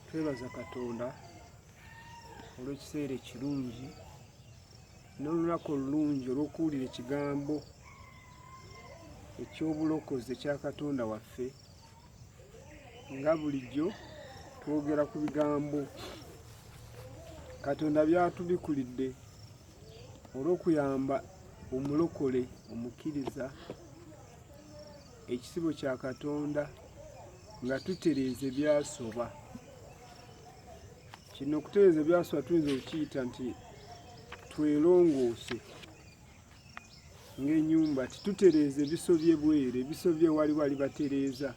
twebaza katonda olw'ekiseera ekirungi n'olunaku olulungi olw'okuwulira ekigambo eky'obulokozi ekya katonda waffe nga bulijjo twogera ku bigambo katonda byatubikulidde olw'okuyamba omulokole omukkiriza ekisibo kya katonda nga tutereeza ebyasoba kino okutereeza ebyasoba tuyinza okukiyita nti twelongoose ng'enyumba titutereeza ebisobye bwere ebisobye wali wali batereeza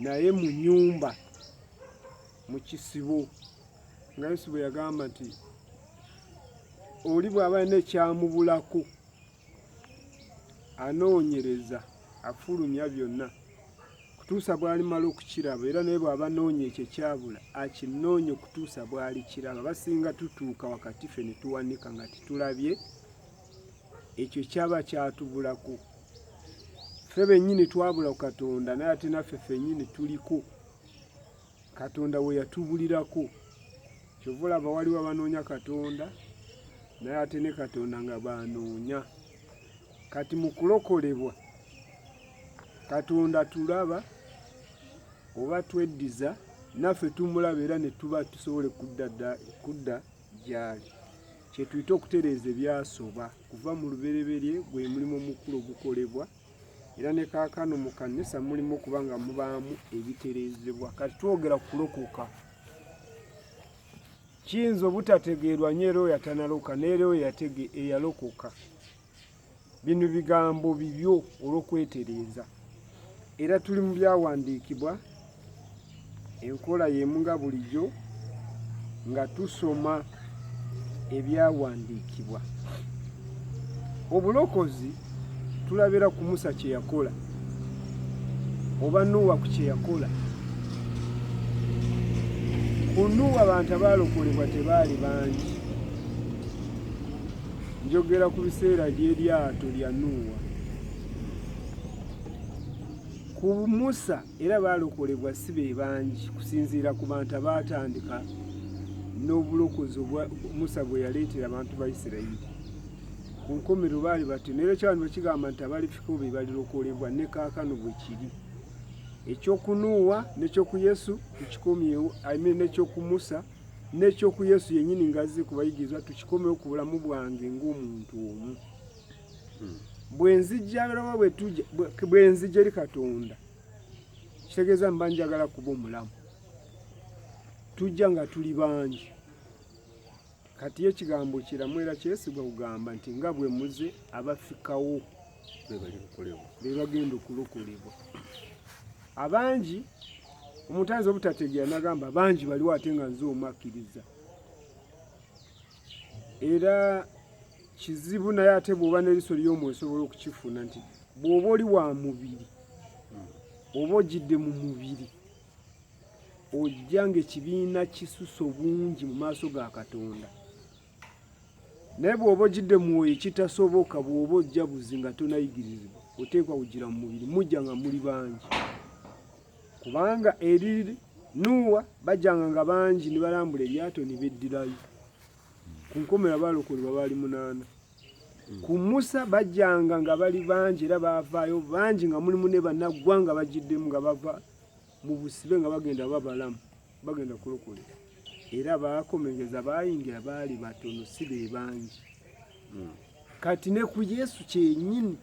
naye mu nyumba mu kisibo nga yesu bwe yagamba nti oli bw'aba alina ekyamubulako anoonyereza afulumya byonna okutuusa bwalimala okukiraba era naye bw'aba anoonya ekyo ekyabula akinoonya okutuusa bwalikiraba basinga tutuuka wakati ffe ne tuwanika nga tetulabye ekyo kyaba kyatubulako ffe bennyini twabula ku katonda naye ate naffe fennyini tuliko katonda we yatubulirako kyova olaba waliwo abanoonya katonda naye ate ne katonda nga banoonya kati mu kulokolebwa katonda tulaba oba tweddiza naffe tumulaba era ne tuba tusobole kudda gyali kyetuyita okutereeza ebyasoba kuva mu lubereberye gwe mulimu omukulu ogukolebwa era ne kaakano mu kanisa mulimu okuba nga mubaamu ebitereezebwa kati twogera ku kulokoka kiyinza obutategeerwa nyo era oyo atanaloka neera oyo yatege eyalokoka bino bigambo bibyo olw'okwetereeza era tuli mu byawandiikibwa enkola y'emu nga bulijjo nga tusoma ebyawandiikibwa obulokozi tulabira ku musa kye yakola oba nuuwa ku kye yakola ku nuuwa abantu abaalokolebwa tebaali bangi njogera ku biseera by'eryato lya nuuwa ku musa era baalokolebwa si be bangi kusinziira ku bantu abaatandika n'obulokozi obwa musa bwe yaleetera abantu ba isirayiri ku nkomero baali bati naera ekyabani bakigamba nti abalifiko be balirokolebwa ne kaakano bwe kiri ekyokunuuwa nekyoku yesu tukikomyewo imean nekyoku musa nekyoku yesu yennyini ngazze ku bayigirizwa tukikomyewo ku bulamu bwange ng'omuntu omu hmm. bwenzijja birabo bwetuja bwenzijja eri katonda kitegeeza mba njagala kuba omulamu tujja nga tuli bangi kati ye kigambo kiramu era kyesigwa kugamba nti nga bwe muze abafikawo be bagenda okulokolebwa abangi omuntu ayinza obutategeera nagamba bangi baliwo ate nga nze omu akkiriza era kizibu naye ate bw'oba n'eriso ly'omu osobola okukifuna nti bw'oba oli wa mubiri oba ojidde mu mubiri ojja ng'ekibiina kisusa obungi mu maaso ga katonda naye bw'oba ojidde mwoyo ekitasoboka bw'oba ojja buzi nga tonayigirizibwa oteekwa kugira mu mubiri mujja nga muli bangi kubanga eri nuuwa bajjanga nga bangi ne balambula eryato ne beddirayo ku nkomera baalokolebwa baali munaana ku musa bajjanga nga bali bangi era baavaayo bangi nga mulimu ne banaggwa nga bagiddemu nga bava mu busibe nga bagenda babalamu bagenda kulokolera era baakomegeza baayingira baali batono si be bangi hmm. kati ne ku yesu kyenyini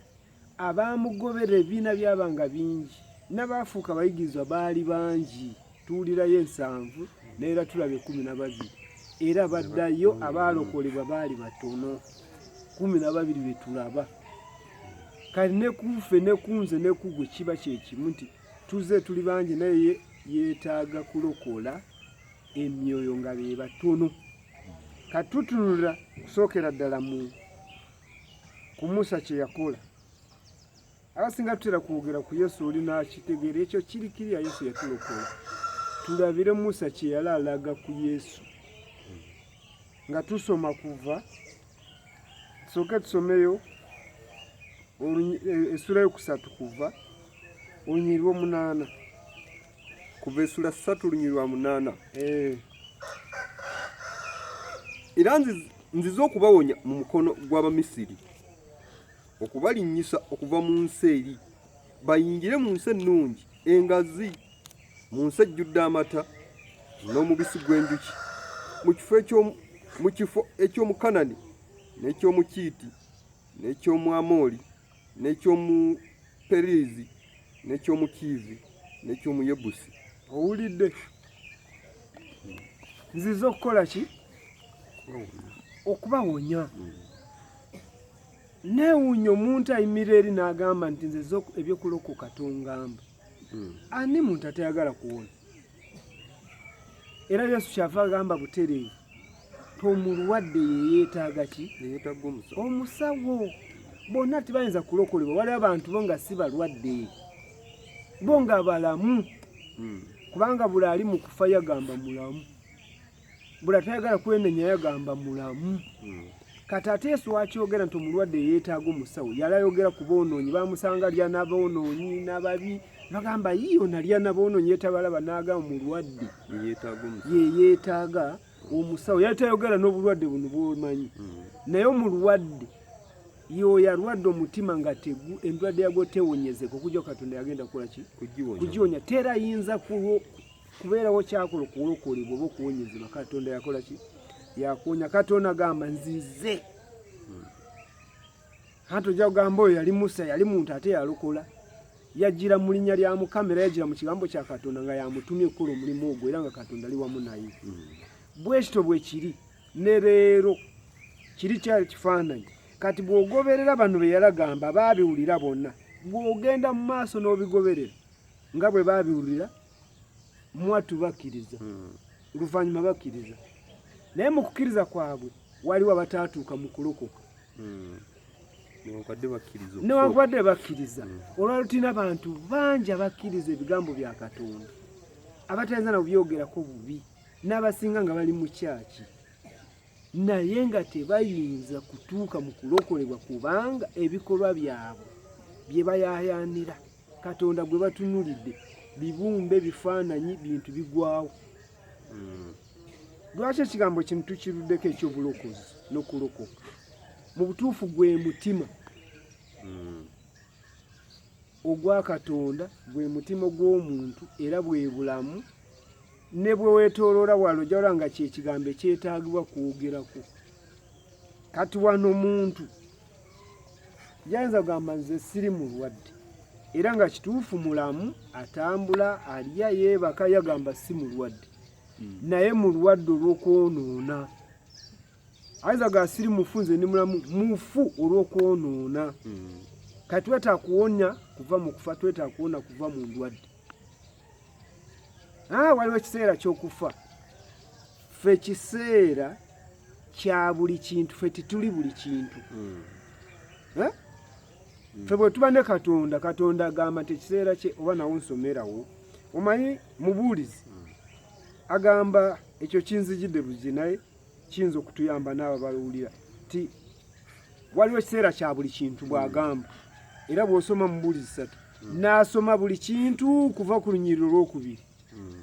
abaamugoberera ebibiina byaba nga bingi n'abaafuuka abayigirizwa baali bangi tuwulirayo ensanvu naera tulaba ekumi na babiri era baddayo abaalokolebwa baali batono kumi na babiri be tulaba kati ne kufe ne kunze ne kugwe kiba kyekimu nti tuze tuli bangi naye yeetaaga kulokola emyoyo nga be batono katutunulira kusookera ddala mu ku Musa kye yakola abasinga tutera kwogera ku Yesu oli n'akitegeera ekyo kiri kiriya Yesu yatulokola tulabire Musa kye yali alaga ku Yesu nga tusoma kuva tusooke tusomeyo e, essula yokusatu kuva olunyiriri lwomunaana kuva esula ssatu lunyiri lwa munaana eh. era nzize okubawonya mu mukono gw'abamisiri okubalinnyisa okuva mu nsi eri bayingire mu nsi ennungi engazi mu nsi ejjudde amata n'omubisi gw'enjuki mu kifo eky'omukanani n'ekyomukiiti n'ekyomwamoli n'eky'omu Perizi n'eky'omu Kiivi n'eky'omu Yebusi. Owulidde? Nzize okukola ki? Okubawonya. Hmm. Neewuunya omuntu ayimirira eri n'agamba nti nze eby'okulokoka tongamba. Hmm. Ani muntu atayagala kuwona? era yesu kyava agamba butereevu tomulwadde yeyeetaaga ki omusawo bonna tibayinza kulokolebwa waliwo abantu bo nga si balwadde bo nga balamu hmm. kubanga buli ali mu kufa yagamba mulamu bula tayagala kwenenya yagamba mulamu hmm. kati ate yesu wakyogera nti omulwadde yeetaaga omusawo yali ayogera ku boonoonyi bamusanga lya naboonoonyi nababi bagamba yiyo nalya naboonoonyi yetabalaba naaga omulwadde ye yeetaaga omusawo yali tayogera n'obulwadde buno bwomanyi hmm. naye omulwadde yoyo alwadde omutima nga tegu endwadde yagwo tewonyezeka okujja katonda yagenda kukola ki kugiwonya tera yinza kulwo kubeerawo kyakola okuwolokolebwa oba okuwonyezebwa katonda yakola ki yakuwonya katonda agamba nzize anti ojja kugamba oyo yali musa yali muntu ate yalokola yajjira mu linnya lya mukama era yajjira mu kigambo kya katonda nga yamutumye okukola omulimu ogwo era nga katonda ali wamu naye bwekito bwe kiri ne leero kiri kya kifaananyi kati bw'ogoberera bano be yalagamba baabiwulira bonna bw'ogenda mu maaso n'obigoberera nga bwe baabiwulira mwattu bakkiriza hmm. oluvannyuma bakkiriza naye mu kukkiriza kwabwe waliwo abataatuuka mu kulokoka hmm. newankubadde bakkiriza hmm. olwalo tulina abantu bangi abakkiriza ebigambo bya katonda abatayinza na kubyogerako bubi n'abasinga nga bali mu kyaki naye nga tebayinza kutuuka mu kulokolebwa kubanga ebikolwa byabwe bye bayayanira katonda gwe batunulidde bibumbe bifaananyi bintu bigwawo hmm. lwaki ekigambo kino tukiruddeko ekyobulokozi nokulokoka mu butuufu gwe mutima hmm. ogwa katonda gwe mutima gw'omuntu era bwe bulamu ne bwe weetooloola wano ojja olaba nga kyekigambo ekyetaagibwa kwogerako kati wano muntu yayinza kugamba nze siri mulwadde era nga kituufu mulamu atambula alya yeebaka yagamba si mulwadde hmm. naye mulwadde olw'okwonoona ayinza ga siri mufu nze ndi mulamu mufu olw'okwonoona hmm. kati twetaaga kuwonya kuva mu kufa twetaaga kuwona kuva mu ndwadde Ah, waliwo ekiseera kyokufa fe kiseera kya buli kintu fe tituli buli kintu hmm. eh? hmm. fe bwetuba ne katonda katonda agamba nti ekiseera kye oba nawo nsomerawo omanyi mubuulizi hmm. agamba ekyo kinzijidde buzi naye kiyinza okutuyamba n'abo balowulira ti waliwo ekiseera kya buli kintu bw'agamba era bw'osoma mu buuli zisatu hmm. n'asoma buli kintu kuva ku lunyiriro olwokubiri hmm.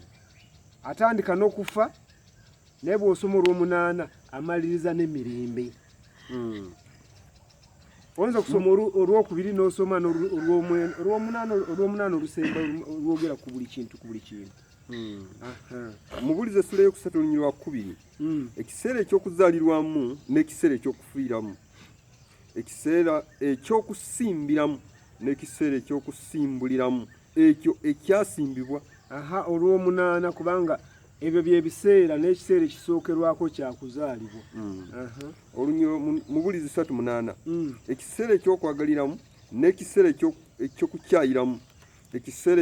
atandika n'okufa naye bw'osoma olw'omunaana amaliriza n'emirembe hmm. oyinza okusoma olwokubiri n'osoma olw'omunaana olusemba olwogera ku buli kintu ku buli kintu Hmm. mubulize essula eyokusatu olunyiri lwa kubiri hmm. ekiseera ekyokuzalirwamu n'ekiseera ekyokufiiramu ekiseera ekyokusimbiramu n'ekiseera ekyokusimbuliramu ekyo ekyasimbibwa aha olwomunaana kubanga ebyo byebiseera n'ekiseera ekisookerwako kyakuzaalibwa hmm. olunyiro mubulizi satu munaana ekiseera ekyokwagaliramu n'ekiseera ekyokukyayiramu ekiseera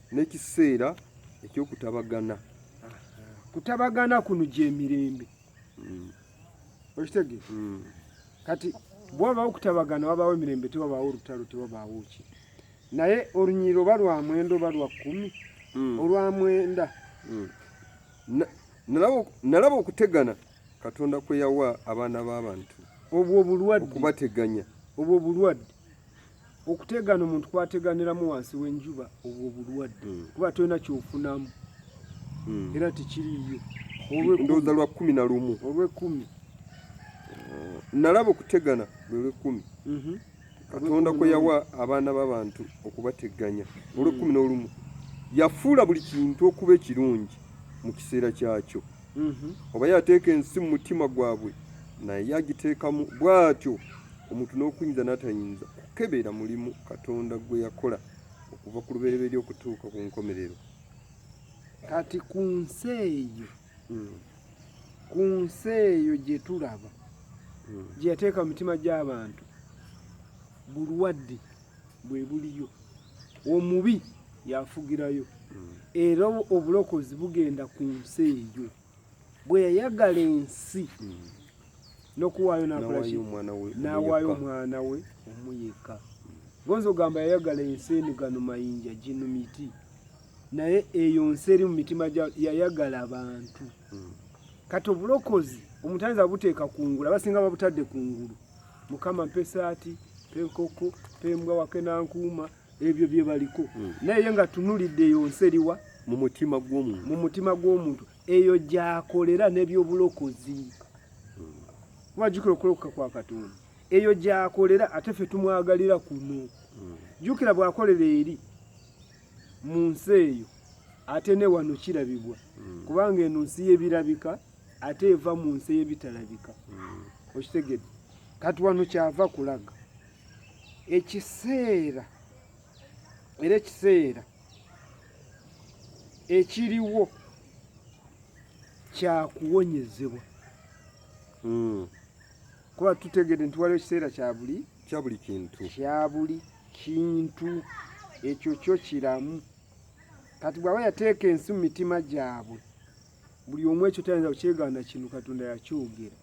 n'ekiseera ekyokutabagana kutabagana kuno gyemirembe mm. okitege mm. kati bwabawo okutabagana wabawo emirembe tewabaawo olutalo tewabaawo ki naye olunyiriro oba lwa mwenda oba lwa kumi mm. olwa mwenda nalaba okutegana katonda kweyawa abaana b'abantu obwo obulwadde okubateganya obwo obulwadde okutegana omuntu kwateganiramu wansi w'enjuba obwo obulwadde hmm. kuba tolina kyofunamu hmm. era tekiriyo ndowooza lwa kumi na lumu olwekumi nalaba okutegana lwe lwekumi mhm. katonda kwe yawa abaana b'abantu okubateganya hmm. olwekumi n'olumu yafuula buli kintu okuba ekirungi mu kiseera kyakyo mhm. oba yateeka ensi mu mutima gwabwe naye agiteekamu bw'atyo omuntu n'okuyinza n'atayinza kukebera mulimu katonda gwe yakola okuva ku lubereberye okutuuka ku nkomerero kati ku nsi eyo hmm. ku nsi eyo gye tulaba hmm. gye yateeka mu mitima gy'abantu bulwadde bwe buliyo omubi yafugirayo hmm. era obulokozi bugenda ku nsi eyo bwe yayagala ensi hmm. nokuwaayo nawaayo omwana we omuyeka gonza ogamba yayagala ensi eno gano mayinja gino miti naye eyo nsi eri mu mitima yayagala abantu hmm. kati obulokozi omutanzi abuteeka kungulu abasinga babutadde kungulu mukama mpe esaati mpe enkoko mpe embwa wake nankuuma ebyo bye baliko hmm. naye nga tunulidde eyo nsi eriwa mu mutima gw'omuntu mu mutima gw'omuntu eyo gyakolera n'ebyobulokozi hmm. wajukira okulokoka kwa katonda eyo gyakolera ate ffe tumwagalira kuno hmm. jukira bwakolera eri mu nsi eyo ate ne wano kirabibwa kubanga eno nsi y'ebirabika ate eva mu nsi eyebitalabika hmm. okitegede kati wano kyava kulaga ekiseera era ekiseera ekiriwo kyakuwonyezebwa hmm. kuba tutegede nti waliwo ekiseera kyabuli kyabuli kintu kyabuli kintu ekyo kyo kiramu kati bwaba yateeka ensi mu mitima gyabwe buli omu ekyo tayinza kukyegaana kino katonda yakyogera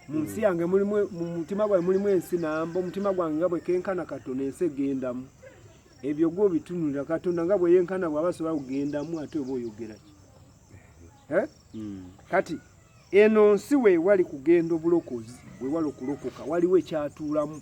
mu nsi hmm. yange mulimu mu mutima gwange mulimu ensi namba omutima gwange nga bwekenkana katonda ensi egendamu ebyo gwe obitunulira katonda nga bweyenkana bwaba asobola kugendamu ate oba oyogeraki eh? hmm. kati eno nsi wewali kugenda obulokozi wewali okulokoka waliwo ekyatuulamu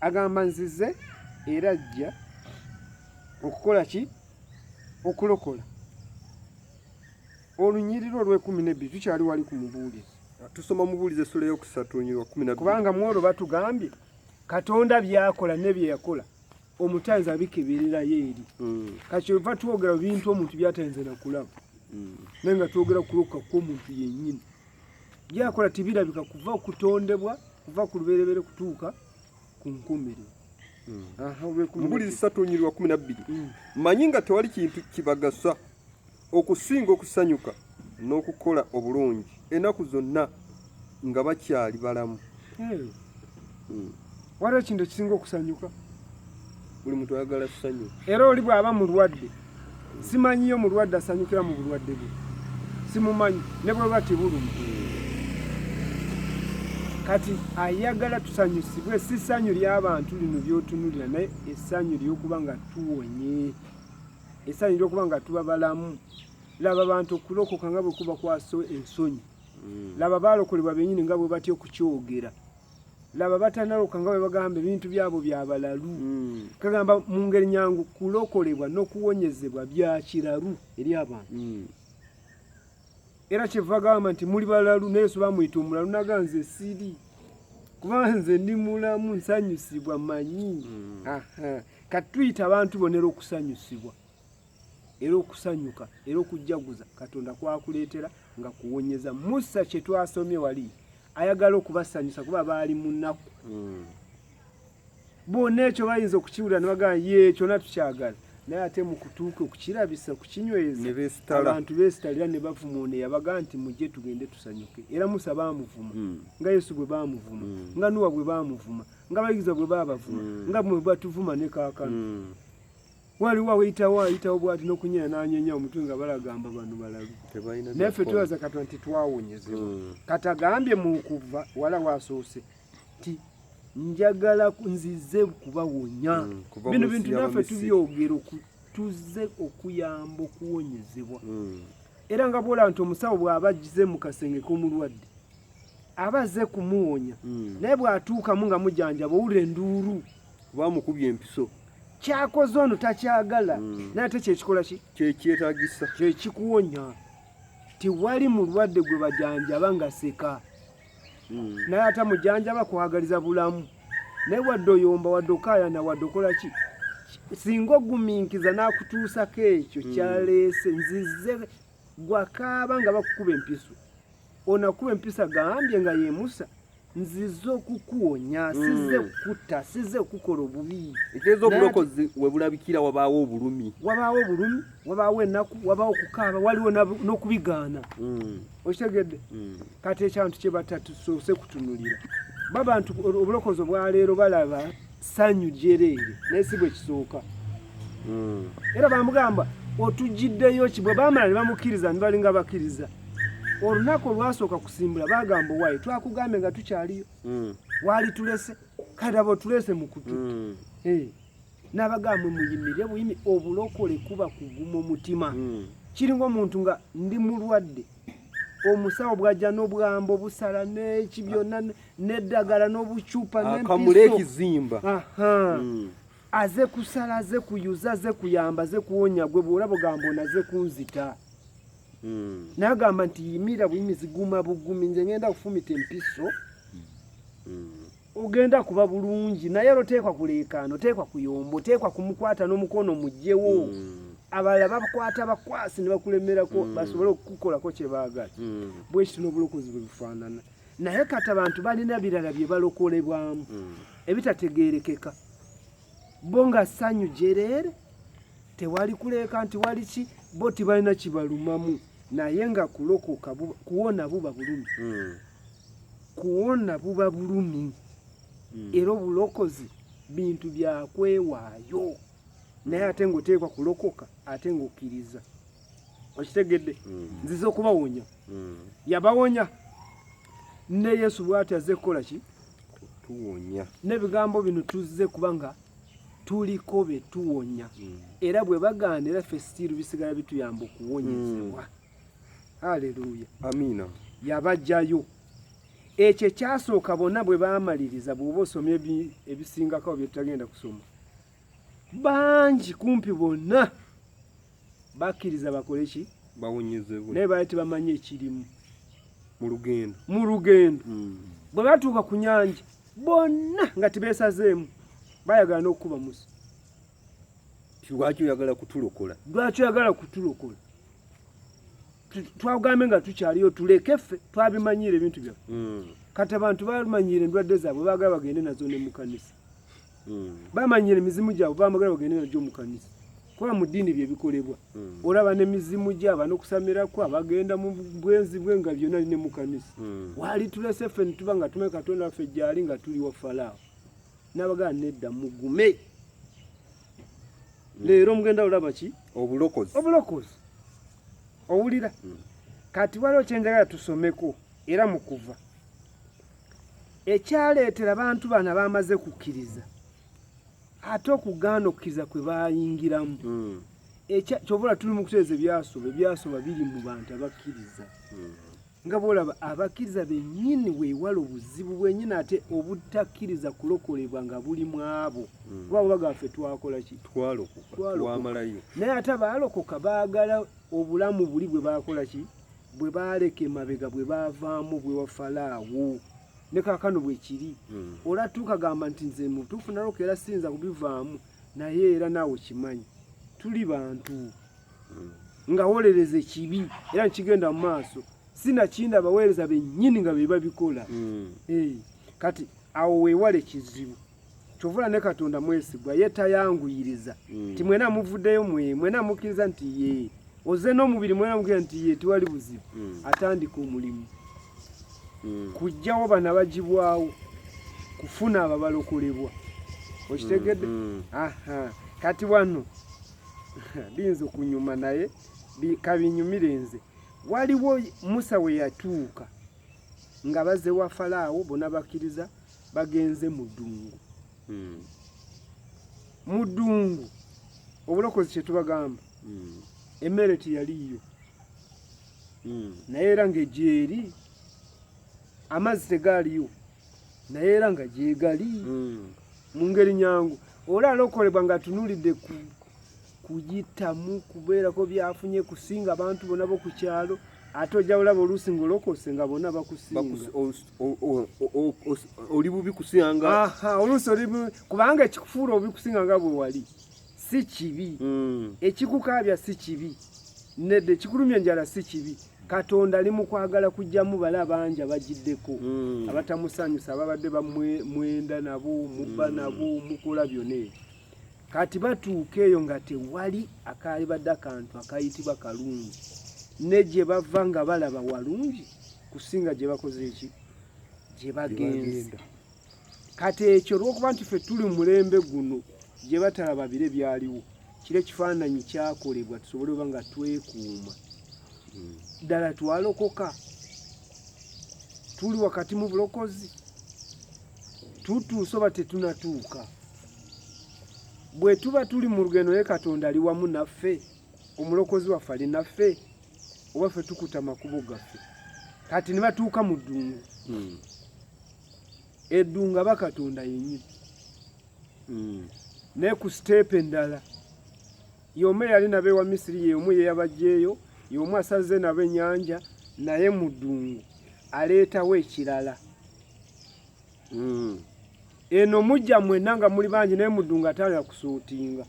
agamba nzize era ajja okukola ki okulokola olunyiriro olwekumi nebbiri tukyali wali ku mubuulizi tusoma mubuulizi essula eyokusatu olunyiriro kumi nabiri kubanga mu olwo batugambye katonda byakola ne bye yakola omutanzi abikebererayo eri hmm. kakyova twogera bintu omuntu byatayinza nakulaba hmm. naye nga twogera kulokoka kwomuntu yennyini byakola tibirabika kuva okutondebwa kuva ku lubereberye kutuuka ku nkumiriro mubuli zisatu nyirwa kumi nabbiri mm. manyi nga tewali kintu kibagasa okusinga okusanyuka n'okukola obulungi enaku zonna nga bakyali balamu hmm. waliwo ekintu ekisinga okusanyuka buli muntu ayagala ssanyu era oli bw'aba mulwadde simanyiyo mulwadde asanyukira mu bulwadde bwe simumanyi ne bweba tibulumi kati ayagala tusanyusibwe si ssanyu ly'abantu lino by'otunulira naye essanyu ly'okuba nga tuwonye essanyu ly'okuba nga tuba balamu laba bantu okulokoka nga bwe kuba kwaso ensonyi hmm. laba baalokolebwa bennyini nga bwe batya okukyogera laba batanaluka nga bwebagamba ebintu byabo byabalalu mm. kagamba mu ngeri nyangu kulokolebwa n'okuwonyezebwa bya kiralu eri abantu mm. era kyeva gamba nti muli balalu naye yesu bamuyita omulalu naga nze siri kuba nze ndi mulamu nsanyusibwa manyi mm. kati tuyita abantu bonera okusanyusibwa era okusanyuka era okujjaguza katonda kwakuleetera nga kuwonyeza musa kye twasomye wali ayagala okubasanyusa kuba baali mu nnaku hmm. bonna ekyo bayinza okukiwulira ne bagamba ye kyona tukyagala naye ate mu kutuuka okukirabisa okukinyweza abantu beesitalira ne bavuma ono eyabaga nti mujje tugende tusanyuke era musa baamuvuma hmm. nga yesu bwe baamuvuma hmm. nga nuwa bwe baamuvuma nga abayigiza bwe baabavuma nga bwe batuvuma ne kaakano waliwo aweyitawo ayitawo bwati nokunyera nanyenya omutwe nga balagamba bano balalu naffe twebaza katonda nti twawonyezebwa hmm. katagambye mukuva wala wasoose ti njagala nzize kubawonya hmm, bino bintu naffe tubyogera tuze okuyamba okuwonyezebwa hmm. era nga bwola nti omusawo bwaba agize mu kasenge k'omulwadde aba azze kumuwonya hmm. naye bw'atuukamu nga mujanjaba owulira enduulu kuba amukubye empiso kyakoze ono takyagala hmm. naye ate kyekikola ki kyekyetagisa kyekikuwonya tewali mulwadde gwe bajanjaba nga seka hmm. naye ate mujanjaba kwagaliza bulamu naye wadde oyomba wadde okayana wadde okola ki singa oguminkiza n'akutuusako ekyo kyaleese nzize gwakaaba nga bakukuba empiso onakuba empiso agambye nga yemusa nzize okukuwonya hmm. size kukutta size okukola obubi ekitegeeza obulokozi webulabikira wabaawo obulumi wabaawo obulumi wabaawo enaku wabaawo okukaaba waliwo n'okubigaana hmm. okitegedde hmm. kati ekyantu kyebatatusoose kutunulira babantu obulokozi obwaleero balaba ssanyu lyereere naye si bwe kisooka hmm. era bamugamba otugiddeyo ki bwe baamala ne bamukkiriza ne balinga bakkiriza olunaku olwasooka kusimbula bagamba owaayi twakugambye nga tukyaliyo hmm. waali tulese kati aba otulese mu kutu hmm. eh. n'abagambwe muyimire buyimi obulokole kuba kuguma omutima kiringa omuntu nga ndi mulwadde omusawo bwajja n'obwambo busala n'eki byonna n'eddagala n'obucupa n'akamulo ekizimba hmm. aze kusala aze kuyuza aze kuyamba aze kuwonya gwe bwolaba ogamba ono aze kunzita hmm. nagamba nti yimira buyimizi guma bugumi nze ngenda kufumita empiso hmm. ogenda kuba bulungi naye era oteekwa kuleekaana oteekwa kuyomba oteekwa kumukwata n'omukono mugyewo mm. abalala bakwata bakwasi ne bakulemerako mm. basobole okukukolako kye baagala mm. bwekiti n'obulokozi bwe bufaanana naye kati abantu balina birala bye balokolebwamu ebitategeerekeka bo nga ssanyu jereere tewali kuleeka nti wali ki bo tibalina kibalumamu naye nga kulokoka kuwona buba bulumi kuwona buba bulumi hmm. era obulokozi bintu byakwewaayo naye ate ngaoteekwa kulokoka ate ngaokkiriza okitegedde hmm. nziza okubawonya hmm. yabawonya ne yesu bwati azze kukola ki tuwonya n'ebigambo bino tuzze kuba nga tuliko betuwonya era bwe bagaana era ffe sitiiru bisigala bituyamba okuwonyezebwa haleluya amiina yabajjayo ekyo ekyasooka bonna bwe baamaliriza bw'oba osoma ebisingako byetutagenda kusoma bangi kumpi bonna bakkiriza bakole ki bawonyezebwe naye baali tebamanyi ekirimu mu lugendo mu lugendo hmm. bwe batuuka ku nyanja bonna nga tebeesazeemu bayagala n'okukuba musa lwaki oyagala kutulokola lwaki oyagala kutulokola twagambe nga tukyaliyo tuleke ffe twabimanyiira ebintu byaffe hmm. kati abantu bamanyiira endwadde zaabwe bagala bagende nazo ne mukanisa hmm. bamanyiira emizimu gyabwe bamagala bagende najo mukanisa kuba mu ddiini bye bikolebwa hmm. olaba n'emizimu gyaba n'okusamirako abagenda mu bwenzi bwe nga byonna li ne mu kanisa hmm. waali tulese ffe ne tuba nga tumanyi katonda waffe gyali nga tuli wa falaawo nabagaa nedda mugume hmm. leero mugenda olaba ki obulokozi obulokozi owulira hmm. kati waliwo kyenjagala tusomeko era mu kuva ekyaleetera abantu bana bamaze kukkiriza ate okugaana okukkiriza kwe bayingiramu hmm. kyobola tuli mu kuteeza ebyasoba ebyasoba biri mu bantu abakkiriza nga bwolaba abakkiriza bennyini weewala obuzibu bwennyini ate obutakkiriza kulokolebwa nga buli mu abo hmm. kuba baba gaffe twakola ki twalokokatwamalayo naye ate abaalokoka baagala obulamu buli bwe baakola ki bwe baaleka emabega bwe baavaamu bwe wafalaawo ne kaakano bwe kiri hmm. olatuuka gamba nti nze mutuufu naloka era siyinza kubivaamu naye era naawe kimanyi tuli bantu nga wolereza ekibi era nkigenda mu maaso sinakindi abaweereza bennyini nga be babikola hmm. eh, kati awo weewala ekizibu kyovula ne katonda mwesigwa ye tayanguyiriza hmm. ti mwena muvuddeyo mwe mwena mukkiriza nti ye oze n'omubiri mwena mukira nti ye tewali buzibu hmm. atandika omulimu kujjawo bana bagibwawo kufuna ababalokolebwa okitegedde kati wano biyinza okunyuma naye kabinyumire nze waliwo musa we yatuuka nga baze wa falaawo bona bakkiriza bagenze mu ddungu hmm. mu ddungu obulokozi kyetubagamba hmm. emmere teyaliyo hmm. naye era ngaegyeri amazzi tegaaliyo naye era nga gyegali hmm. mu ngeri nyangu oli alokolebwa nga atunulidde ku kuyitamu kubeerako byafunye kusinga abantu bona bo ku kyalo ate ojja bulaba oluusi ng'olokose nga bona bakusingaoli bubi kusinga oluusi oli kubanga ekikufuula obi kusinga nga bwe wali si kibi mm. ekikukaabya si kibi nedde ekikulumya enjala si kibi katonda ali mu kwagala kujjamu bala bangi abagiddeko mm. abatamusanyusa ababadde bamwenda nabo mubba mm. nabo mukola byona ebyo kati batuuka eyo nga tewali akaalibadde akantu akayitibwa kalungi ne gye bava nga balaba walungi kusinga gye bakoze eki gye bagenda kati ekyo olwokuba nti ffe tuli mu mulembe guno gye batalaba bire byaliwo kiri ekifaananyi kyakolebwa tusobole oba nga twekuuma hmm. ddala twalokoka tuli wakati mu bulokozi tutuuse oba tetunatuuka bwe tuba tuli mu lugendo naye katonda ali wamu naffe omulokozi waffe ali naffe oba ffe tukuta amakubo gaffe kati ne batuuka mu ddungu hmm. eddu nga bakatonda yenyini mm. naye ku siteepu endala yomu eyali nabo ewa misiri yeomu yeyabajjeeyo yomu asaze nabo enyanja naye mu ddungu aleetawo ekirala mm. eno mujja mwena nga muli bangi naye mu ddungu atandika kusuutinga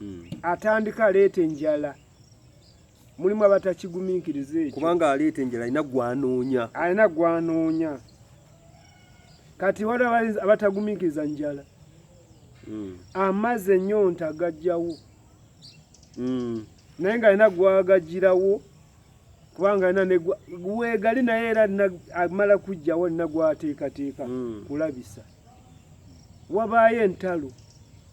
mm. atandika aleeta enjala mulimu abatakigumiikiriza ekyo kubanga aleeta enjala alina gwanoonya alina gwanoonya kati wali abatagumiikiriza njala hmm. amazzi ennyonta gajjawo hmm. naye nga alina gwagajirawo kubanga alina wegali naye era amala kujjawo alina gwateekateeka hmm. kulabisa wabaayo entalo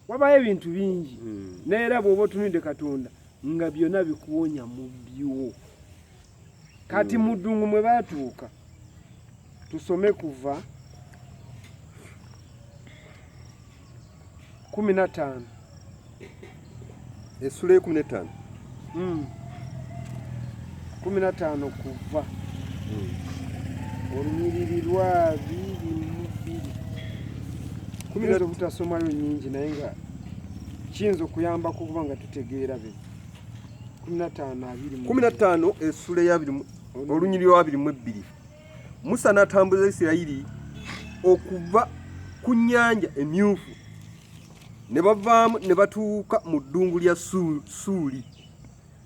wabaayo ebintu bingi hmm. naye era bw'oba otunudde katonda nga byonna bikuwonya mu byo kati hmm. muddungu mwe baatuuka tusome kuva kumi na ttaano essula ekumi netaano hmm. kumi nataano kuva hmm. olunyiriri lwa biri mubiri kuyinza obutasomayo nyingi naye nga kiyinza okuyambako okuba nga tutegeera be kumi nataano abiri kumi nataano essula eyabiri olunyiriri lwa biri mu ebbiri musa n'atambuza isirayiri okuva ku nnyanja emyufu ne bavaamu ne batuuka mu ddungu lya Suuli,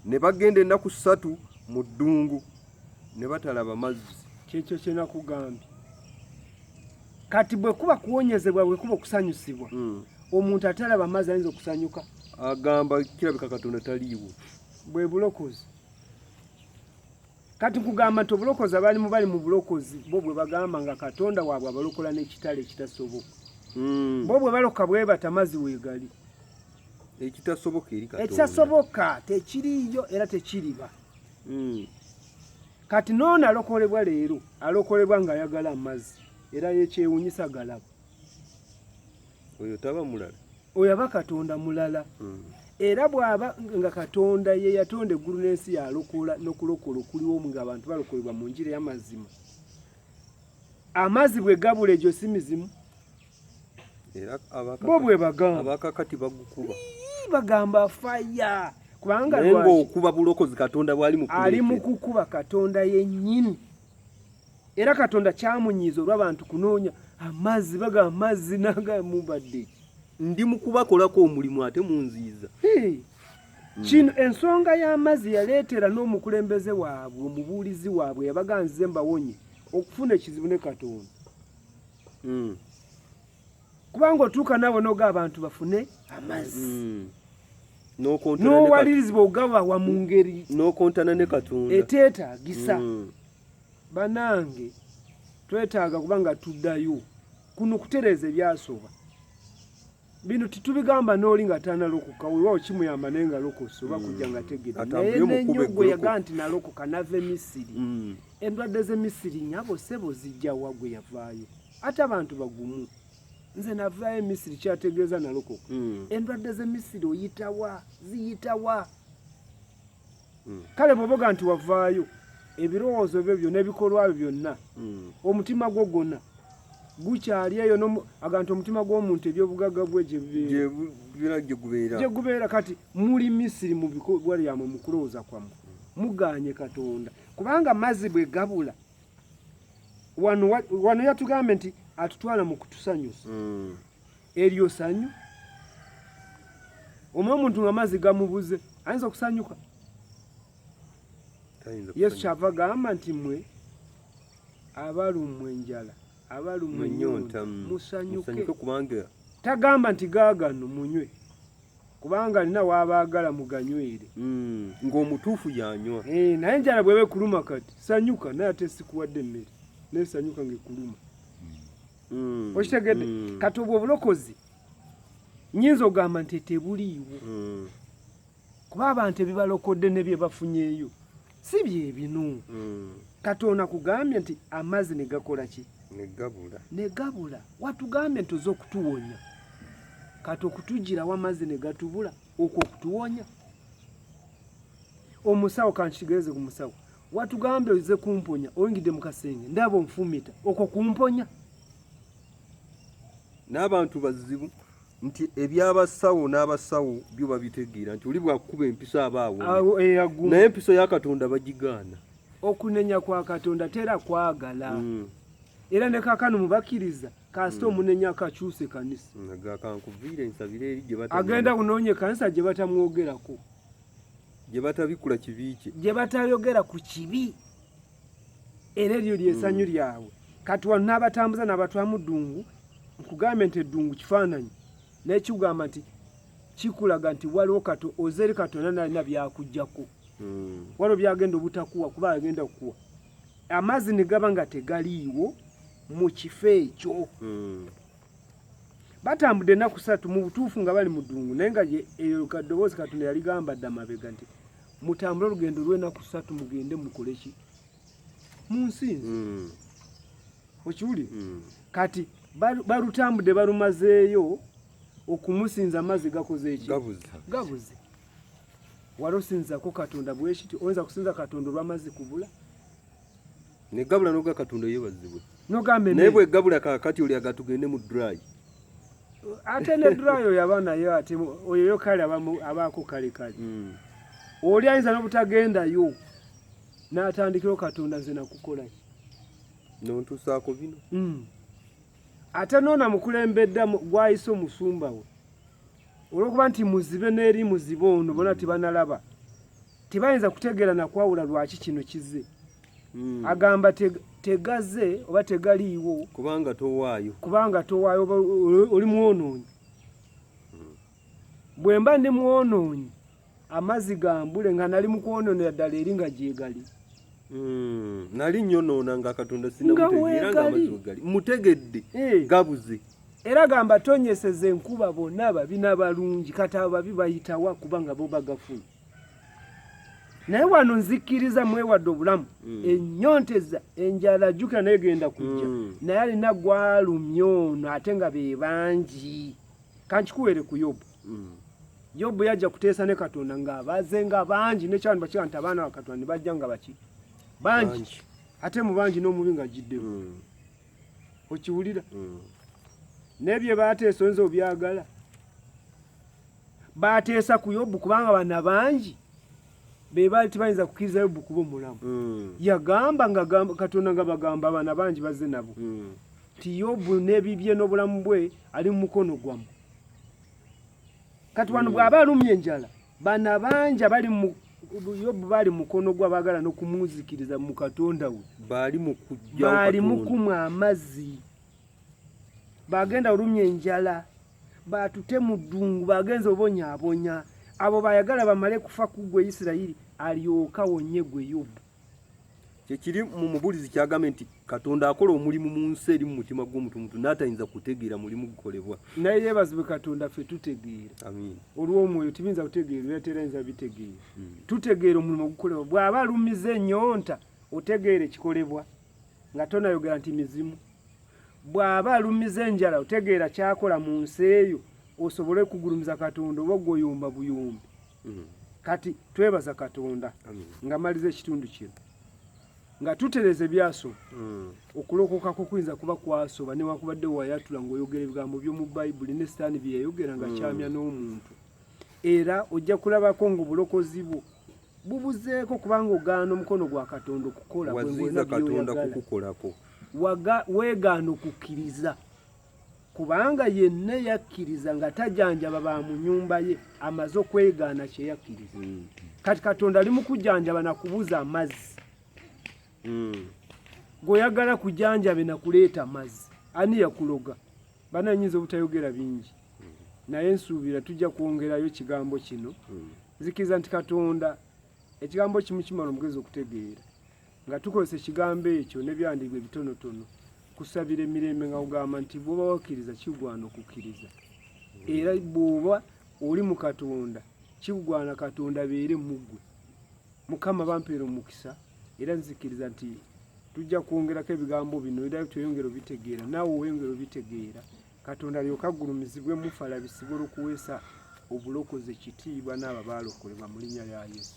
ne bagenda ennaku ssatu mu ddungu ne batalaba mazzi. Kyekyo kye nakugambye. Kati bwe kuba kuwonyezebwa, bwe kuba okusanyusibwa, hmm. omuntu atalaba mazzi ayinza okusanyuka? Agamba kirabika Katonda taliiwo. Bwe bulokozi. Kati nkugamba nti obulokozi abalimu bali mu bulokozi bo bwe bagamba nga Katonda waabwe abalokola n'ekitala ekitasoboka hmm. bo bwe baloka bwe batamazi weegali ekitasoboka eri Katonda ekitasoboka tekiriiyo era tekiriba hmm. kati n'ono alokolebwa leero alokolebwa ng'ayagala amazzi era yekyewunyisa galaba oyo taba mulala oyo aba katonda mulala hmm. era bw'aba nga katonda ye yatonda eggulu n'ensi yalokola n'okulokola okuliwo nga abantu balokolebwa mu njira y'amazima amazzi bwe gabula egyo si mizimu bo bwe bagambabakakati bagukuba bagamba faya kubanga okuba bulokozi katonda bwali ali mu kukuba katonda yennyini era katonda kyamunyiiza olwabantu kunoonya amazzi baga amazzi naga mubadde ndi mukubakolako omulimu ate munziiza hey. mm. kino ensonga y'amazzi yaleetera n'omukulembeze waabwe omubuulizi waabwe yabaga nze mbawonye okufuna ekizibu ne katonda mm. kubanga otuuka naawe noga abantu bafune amazzi mm. n'owalirizibwa ogabawa mu ngeri n'okontana ne katonda eteetaagisa mm. banange twetaaga kuba nga tuddayo kuno kutereeza ebyasooba bino titubigamba n'oli nga tanalokoka wewawo kimuyamba naye nga lokosa oba kujja mm. nga tegera naye nenyo gwe yaga nti nalokoka nava emisiri mm. endwadde z'emisiri nyabo sebo zijjawa gwe yavaayo ate abantu bagumu nze navaayo emisiri kyategeeza nalokoka hmm. endwadde zemisiri oyitawa ziyitawa hmm. kale bwoboga nti wavaayo ebirowoozo byo byo nebikolwa byo byonna hmm. omutima gwo gwona gukyali eyo aganti omutima gw'omuntu ebyobugagga bwe gyegubeera kati muli misiri mu bikolwa lyamwe mu kulowooza kwamwe muganye katonda kubanga mazzi bwe gabula wano wano yatugambye nti atutwala mu kutusanyusa mm. eryo sanyu omu omuntu nga amazzi gamubuze ayinza okusanyuka yesu kyava gamba nti mwe abalumwa enjala abalumwa enyonta mm. musanyuke kubanga tagamba nti gaagano munywe kubanga alina waabaagala muganywere hmm, ng'omutuufu yanywa eh, naye enjala bweba ekuluma kati sanyuka naye ate sikuwadde emmere naye sanyuka ng'ekuluma hmm. okitegedde hmm. kati obwo obulokozi nyinza ogamba nti tebuliiwo kuba abantu ebibalokodde ne bye bafunyeeyo si bye binu hmm. katonda kugambye nti amazzi ne gakola ki ne gabula watugambye nti oza okutuwonya kati okutugirawo amazzi ne gatubula okwo okutuwonya omusawo kankitegeeze ku musawo watugambye oze kumponya oyingidde mu kasenge ndaba onfumita okwo kumponya n'abantu bazibu nti ebyabasawo n'abasawo byo babitegeera nti oli bwakukuba empiso aba awo naye empiso ya katonda bagigaana okunenya kwa katonda tera kwagala mm. era ne kakano mubakkiriza kasita mm. omunenya akakyusa ekanisa agenda kunoonya ekanisa gye batamwogerako gye batabikula kibi kye gye batayogera ku kibi era eryo lyesanyu lyabwe kati wano n'abatambuza n'abatwamu ddungu nkugambye nti eddungu kifaananyi naye kigamba nti kikulaga nti waliwo kato ozeri katonda nalina byakujjako hmm. waliwo byagenda obutakuwa kuba agenda okukuwa amazzi ne gaba nga tegaliiwo mu kifo ekyo hmm. batambudde ennaku satu mu butuufu nga bali mu ddungu naye nga eyo kaddoboozi katonda yaligamba dda mabega nti mutambule olugendo lw'enaku ssatu mugende mukole ki mu nsi nze hmm. okiwulire hmm. kati balutambudde balumazeeyo okumusinza amazzi gakoze eki gabuze wali osinzako katonda bwekiti oyinza kusinza katonda olw'amazzi kubula Ne gabula no gakatunda yebazibwe. No gambe. Ne bwe gabula ka kati oli agatugende mu dry. Ate ne dry oyo abana yo ati oyo yo kale abamu abako kale kale. Mm. Oli ayinza no butagenda yo. Na atandikiro katonda nze nakukola. No ntusako bino. Mm. Ate nona mukulembedda gwayiso musumba we. Olwokuba nti muzibe neri muzibe ono bona tibanalaba. Mm. tebayinza kutegeera nakwawula lwaki kino kize hmm. agamba tegaze oba tegaliiwo kubanga towaayo kubanga towaayo oli mwonoonyi hmm. bwe mba ndi mwonoonyi amazzi gambule nga nali mu kwonoonera ddala eri nga gyegali hmm. nali nyonoona nga katonda sinamutegeera nga amazzi wegali mutegedde eh. gabuze era gamba tonyeseza enkuba bonna ababi n'abalungi kati ababi bayitawa kubanga bo bagafuna naye wano nzikkiriza mwewadde obulamu mm. enyonteza enjala jukira naye genda kujja mm. naye alina gwalumya ono ate nga bebangi kankikuwere ku yobu mm. yobu yajja kuteesa ne katonda ngaabaze nga bangi nekyabantu bakiga nti abaana bakatonda nebajja nga baki bangi ate mu bangi n'omubi nga jiddemu mm. okiwulira mm. naye bye bateesa oyinza obyagala baateesa ku yobu kubanga bana bangi be baali tebayinza kukkiriza yobu kuba omulamu hmm. yagamba nga katonda nga bagamba abaana bangi bazze nabo hmm. nti yobu n'ebibye n'obulamu bwe ali mu mukono gwamu kati wano hmm. bw'aba alumye enjala bana bangi abali mu yobu baali mukono gwa baagala n'okumuzikiriza mu katonda we baali mu kumwa amazzi bagenda olumya enjala batute mu ddungu bagenza obonyaabonya abo bayagala bamale kufa ku gwe isirayiri alyoka wonye gwe yobu kyekiri mu mubulizi kyagambye nti katonda akola omulimu mu nsi eri mu mutima gw'omuntu muntu naatayinza kutegeera mulimu gukolebwa naye yeebazibwe katonda ffe tutegeera olw'omwoyo tibiyinza kutegeera era terayinza bitegeera hmm. tutegeera omulimu ogukolebwa bw'aba alumiza enyonta otegeera ekikolebwa nga tonayogera nti mizimu bw'aba alumiza enjala otegeera kyakola mu nsi eyo osobole kugulumiza katonda oba gwoyomba buyombi mm. kati twebaza katonda nga maliza ekitundu kino nga tutereza ebyaso mm. okulokoka kukuyinza kuba kwasoba newakubadde wayatula ngaoyogera ebigambo byomu bayibuli ne sitaani byeyayogera nga mm. kyamya n'omuntu era ojja kulabako ngaobulokozi bwo bubuzeeko kubanga ogaana omukono gwa katonda okukola waziza katonda kukukolako weegaana okukkiriza kubanga yenna yakkiriza nga tajanjaba ba mu nyumba ye amaze okwegaana kye yakkiriza hmm. kati katonda ali mu kujanjaba na kubuza amazzi hmm. gweoyagala kujanjabe na kuleeta amazzi ani yakuloga bananyinza obutayogera bingi hmm. naye nsuubira tujja kwongerayo kigambo kino nzikiriza nti katonda ekigambo kimu kimala omugezi okutegeera nga tukozesa ekigambo ekyo nebyandigwa ebitonotono kusabira emirembe nga kugamba nti bwoba wakkiriza kigwana okukkiriza era bwoba oli mu katonda kigwana katonda beere muggwe mukama bampeera omukisa era nzikiriza nti tujja kwongerako ebigambo bino era tweyongere obitegeera naawe weyongere obitegeera katonda alyoke aggulumizibwe mufe alabisibwe olw'okuweesa obulokozi ekitiibwa n'abo abaalokolebwa mu linnya lya yesu